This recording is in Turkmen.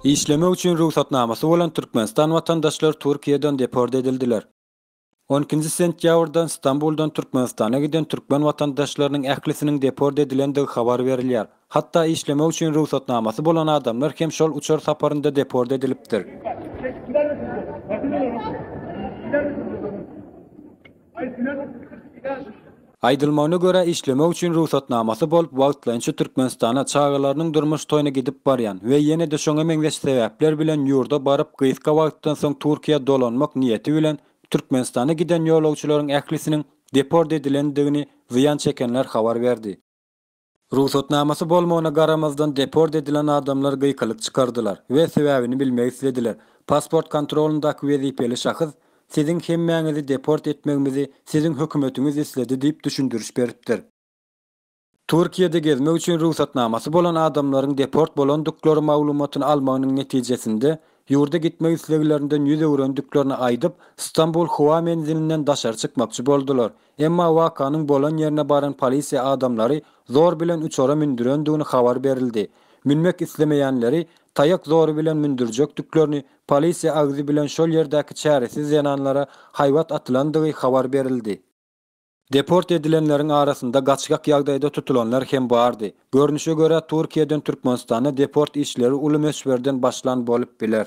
Işlemek üçin rugsatnamasy bolan Türkmenistan watandaşlary Türkiýeden deport edildiler. On ikinji sentýabrdan Stambuldan Türkmenistana giden türkmen watandaşlarynyň ählisiniň deport edilendigi habar berilýär. Hatda işlemek üçin rugsatnamasy bolan adamlar hem şol uçar saparynda deport edilipdir. Aýdylmagyna görä, işlemek üçin rugsatnamasy bolup, wagtlaýynça Türkmenistana, çagalarynyň durmuş toýuna gidip barýan we ýene-de şoňa meňzeş sebäpler bilen ýurda baryp, gysga wagtdan soň Türkiýä dolanmak niýeti bilen Türkmenistana giden ýolagçylaryň ählisiniň deport edilendigini zyýan çekenler habar berdi. Rugsatnamasy bolmagyna garamazdan deport edilen adamlar gykylyk çykardylar we sebäbini bilmek islediler. Pasport kontrolyndaky wezipeli şahys Siziň hemmäňizi deport etmegimizi siziň hökümetiňiz isledi diýip düşündiriş beripdir. Türkiýede gezmek üçin rugsatnamasy bolan adamlaryň deport bolandyklary maglumatyny almagynyň netijesinde ýurda gitmek isleglerinden ýüz öwrendiklerini aýdyp, Stambul howa menzilinden daşary çykmakçy boldular. Emma wakanyň bolan ýerine baran polisiýa adamlary zor bilen uçara mündürendigini habar berildi. Münmek islemeýänleri taýak zory bilen mündürjekdiklerini, polisiýa agzy bilen şol ýerdäki çäresiz zenanlara haýbat atylandygy habar berildi. Deport edilenleriň arasynda gaçgak ýagdaýda tutulanlar hem bardy. Görnüşe görä Türkiýeden Türkmenistana deport işleri uly möçberden başlan bolup biler.